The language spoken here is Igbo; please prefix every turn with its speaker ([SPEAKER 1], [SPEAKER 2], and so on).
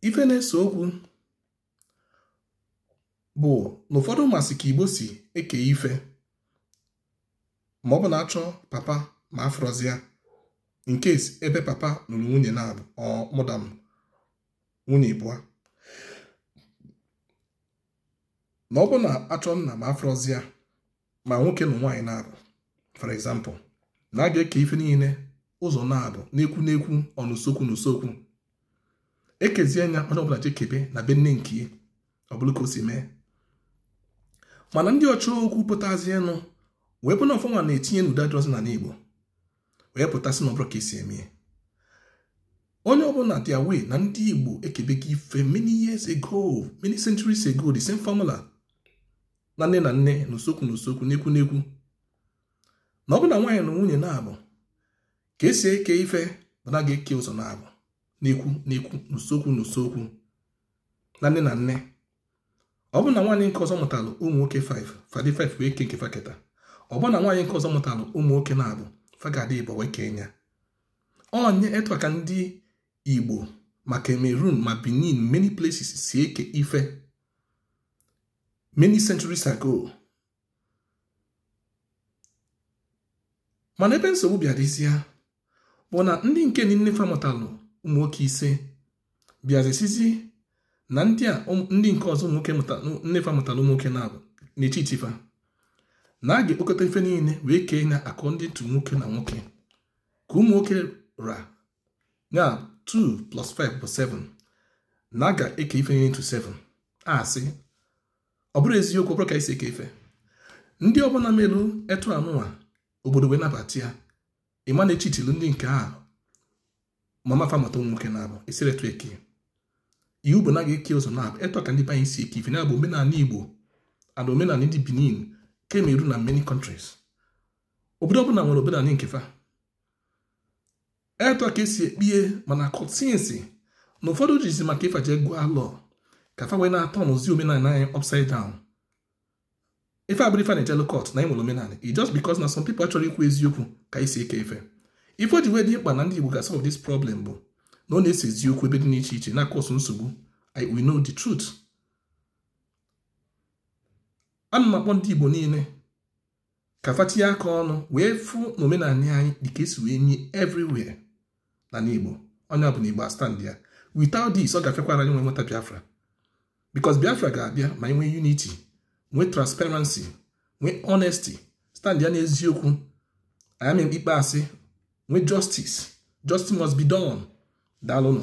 [SPEAKER 1] ife na-ese okwu bụ na ụfọdụ masị ka igbo si eke ife ma ọ bụ na achọ papa ma afụrọzia in case ebe papa nụrụ nwunye naabọ or more than nwunye ịbụa ma ọ bụ na achọ nna ma afụrọzia ma nwoke nụ nwaanyị naabọ for example na a ga-eke ife niile ụzọ naabọ n'ekwu n'ekwu n'usokwu n'usokwu ekezie nya onye ọbụla jekebe na be nne nke ọ bụrụ ka o si mee mana ndị ọchọ okwu pụtazie nụ wee bụ na ọ fa nwa na-etinye n'udo adịrọzi n'anị Igbo wee pụta sị na ọ bụrọ ka esi eme onye ọbụla dị aware na ndị Igbo ekebego ife many years ago many centuries ago the same formula na nne na nne na usokwu na usokwu n'ekwu n'ekwu na ọ bụ na nwaanyị nụ nwunye naabọ ka esi eke ife bụ na a ga-eke ụzọ naabọ n'ekwu n'ekwu na usokwu na usokwu na nne na nne ọ bụ na nwaanyị nke ọzọ mụtalụ ụmụ nwoke 5 fa dị 5 wee kee nke fa keta ọ bụ na nwaanyị nke ọzọ mụtalụ ụmụ nwoke naabọ fa ga-adị ịbụọ wee kee nya onye etu a ka ndị Igbo ma Cameroon ma Benin many places si eke ife many centuries ago mana ebe nsogbu bịa dịzie bụ na ndị nke nne fa mụtalụ ụmụ nwoke ise bịazi sịzi na ndị a ndị nke ọzọ nne fa mụtalụ ụmụ nwoke naabọ na-echeati fa na a ga-ekpokọta ife niile wee kee nya according to nwoke na nwoke ka ụmụ nwoke ra nya 2 plus 5 bụ 7 na a ga-eke ife niile into 7 asị ọ bụrọ eziokwu ọ bụrọ ka esi eke ife ndị ọbụla melu etu anụnwa obodo wee nabata ya ị ma na e cheatilu ndị nke a mama fa mụta ụmụ nwoke naabọ esirọ etu eke iwu bụ na a ga-eke ụzọ naabọ etu ka ndị be anyị si eke ife nya bụ omenanị igbo and omenanị ndị benin Cameroon na many countries obodo ọbụla nwere omenanị nke fa etu a ka esi ekpie ma na court since na ụfọdụ jizi maka ịfa je gụọ law ka fa wee na-aturnuzi omenanị anyị upside down ife abụrọ ife a na-ejelu court na enwere omenanị i just because na some people achọrọ ikwu eziokwu ka esi eke ife ife o ji wee dị mkpa na ndị Igbo ga solve this problem bụ na ọ na-ese ezi okwu ebe dị n'iche iche na-acause nsogbu I we know the truth ana m akpọ ndị Igbo niile ka fa tinye aka ọnụ wee fụ na omenanị anyị dị ka e si wee nye everywhere n'anị Igbo onye ọbụna Igbo astandịa without this ọ ga-afịakwara anyị nwe nweta Biafra because Biafra ga-abịa ma anyị nwee unity nwee transparency nwee honesty standịa n'eziokwu anyị ikpe asị nwee justice justice must be done daalụnụ